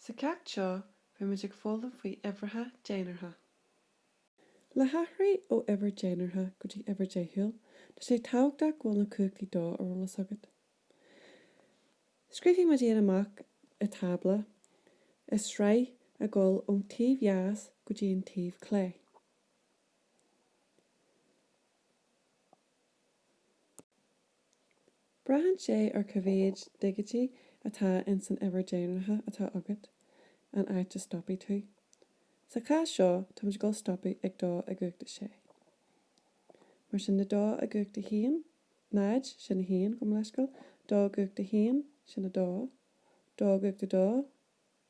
Sa cheacht seo beimid ag foghlaim faoi uimhreacha dénártha. Le hathraigh ó uimhir dénártha go dtí uimhir deachúil, tá sé tábhachtach go bhfuil na cumhachtaí dó ar eolas agat. Scríobhfaidh muid iad amach i dtábla, i sraith ag dul ón taobh dheas go dtí an taobh clé. Braitheann sé ar cá mhéad digití atá ins an uimhir dénártha atá agat, an áit a stopfaidh tú. Sa chás seo, táimid ag dul stopadh ag dó i gcumhacht a sé. Mar sin de, dó i gcumhacht a haon, náid, sin a haon, gabh mo leithscéal, dó i gcumhacht a haon, sin a dó, dó i gcumhacht a dó,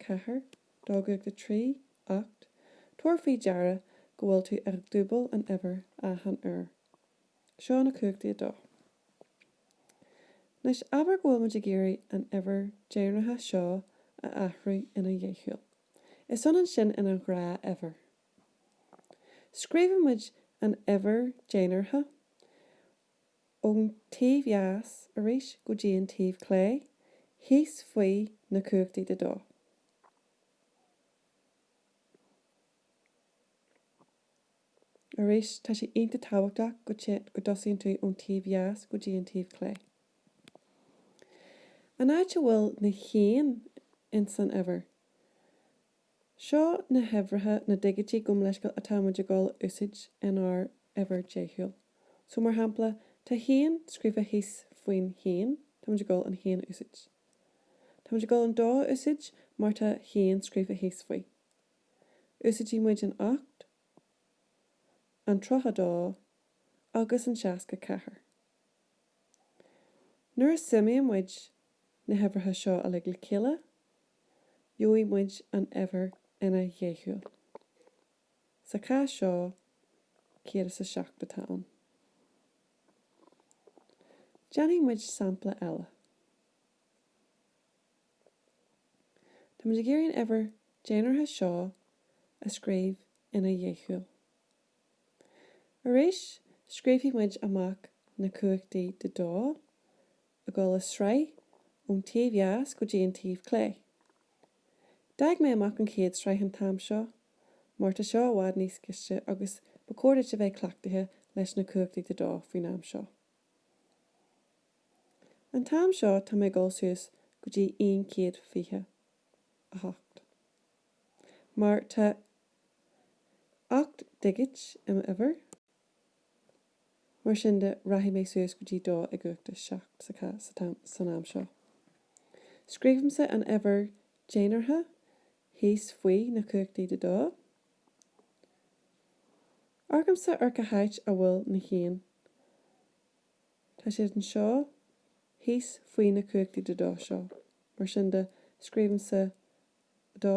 4, 2 i gcumhacht a 3, ocht. Tabhair faoi deara go bhfuil tú ag dúbail an uimhir achan uair. Seo na cumhachtaí 2. Anois abair go bhfuil muid ag iarraidh an uimhir dhénártha seo a athrú ina dheachúil. Is ionann sin ina ghnáthuimhir. Scríobhann muid an uimhir dhénártha ón taobh dheas arís go dtí an taobh clé, thíos faoi na cumhachtaí de dó. Arís, tá sé iontach tábhachtach go dtosaíonn tú ón taobh dheas go dtí an taobh clé. An áit a bhfuil na haon ins an uimhir. Seo na huimhreacha, na digití gabh mo leithscéal atá muid ag dul a úsáid in ár uimhir deachúil. So mar shampla, tá haon scríofa thíos faoin haon, tá muid ag dul an haon a úsáid. Tá muid ag dul an dó a úsáid mar tá haon scríofa thíos faoi. Úsáidfidh muid an ocht, an tríocha dó agus an seasca ceathair. Nuair a suimíonn muid na huimhreacha seo uilig le chéile, gheobhaidh muid an uimhir ina dheachúil. Sa chás seo, céad is a seacht atá ann. Déanfaidh muid sampla eile. Tá muid ag iarraidh an uimhir dénártha seo a scríobh ina dheachúil. Arís, scríobhfaidh muid amach na cumhachtaí de dó, ag dul i sraith ón taobh dheas go dtí an taobh clé. D'fhág mé amach an chéad sraith an t-am seo, mar tá seo i bhfad níos gaiste agus ba chóir duit a bheith cleachtaithe leis na cumhachtaí de dó faoin am seo. An t-am seo tá mé ag dul suas go dtí aon 128. Mar tá ocht ndigit i m'uimhir. Mar sin de, rachaidh mé suas go dtí dó i gcumhacht a seacht san am seo. Scríobhaimse an uimhir dénártha thíos faoi na cumhachtaí de dó. Amharcaimse ar cá háit a bhfuil na haonta. Tá siad anseo thíos faoi na cumhachtaí de dó seo. Mar sin de, scríobhaimse dó.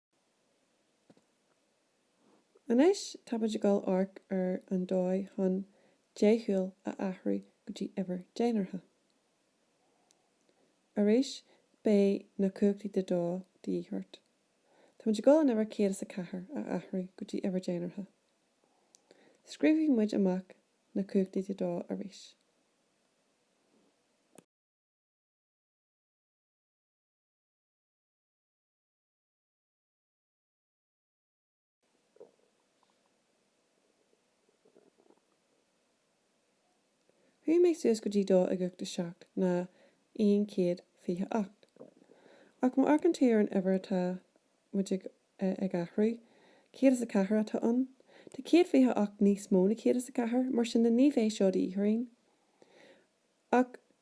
Anois táimid ag dul amharc ar an dóigh chun deachúil a athrú go dtí uimhir dénártha. Arís beidh na cumhachtaí de dó de dhíth ort. Táimid ag dul an uimhir 104 a athrú go dtí uimhir dénártha. Scríobfaidh muid amach na cumhachtaí de dó arís. Chuaigh mé suas go dtí dó i gcumhacht a seacht ná aon chéad fiche ocht. Ach má amharcann tú ar an uimhir atá muid ag ag athrú, céad is a ceathair atá ann. Tá céad fiche ocht níos mó na céad is a ceathair, mar sin de ní bheidh seo de dhíth orainn. Ach.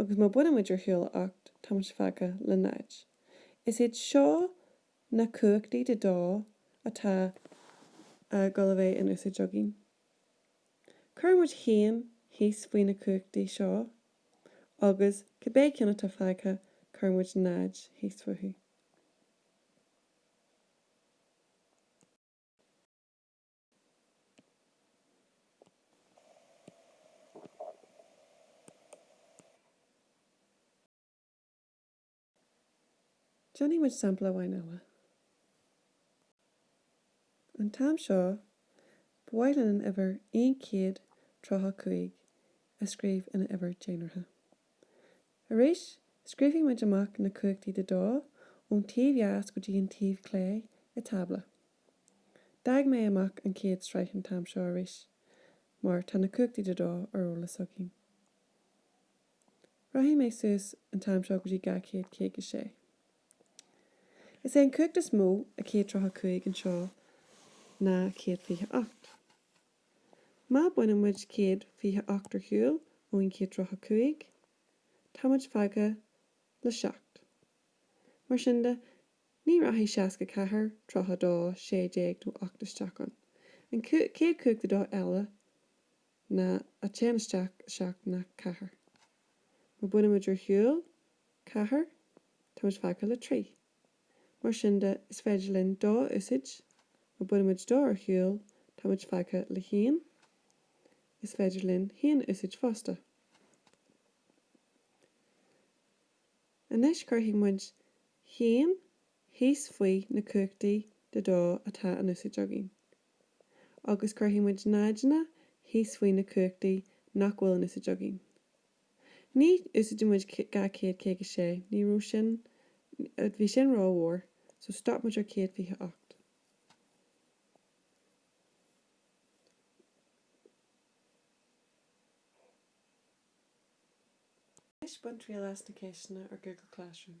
agus má baineann muid ar shiúl ocht tá muid fágtha le náid. Is iad seo na cumhachtaí de dó atá a dhul a bheith in úsáid againn. Cuireann muid a haon thíos faoi na cumhachtaí seo agus cibé ceann atá fágtha cuireann muid náid thíos fúthu. Déanfaidh muid sampla amháin eile. An t-am seo, ba mhaith linn an uimhir aon chéad tríocha cúig a scríobh ina uimhir dénártha. Arís, scríobhfaidh muid amach na cumhachtaí de dó, ón taobh dheas go dtí an taobh clé, i tábla. D'fhág mé amach an chéad sraith an t-am seo arís, mar tá na cumhachtaí de dó ar eolas againn. Rachaidh mé suas an t-am seo go dtí 256. Is é an cumhacht is mó a 135 anseo ná 128. Má baineann muid céad fiche ocht ar shiúl ón gcéad tríocha cúig, tá muid fágtha le seacht. Mar sin de, ní rachaidh seasca ceathair, tríocha dó, sé déag nó ocht isteach ann. An chéad cumhacht de dó eile ná a téann isteach i seacht ná ceathair. Má baineann muid ar shiúl ceathair, tá muid fágtha le trí. Mar sin de, is féidir linn dó a úsáid, má bhaineann muid dó ar shiúl, tá muid fágtha le haon. Is féidir linn haon a úsáid fosta. Anois cuirfidh muid haon thíos faoi na cumhachtaí de dó atá in úsáid againn. Agus cuirfidh muid náideanna thíos faoi na cumhachtaí nach bhfuil in úsáid againn. Ní úsáideann muid dhá chéad caoga a sé, ní raibh sin, bhí sin rómhór, so stop muid ar céad fiche ocht. Anois bain triail as na ceisteanna ar Google Classroom.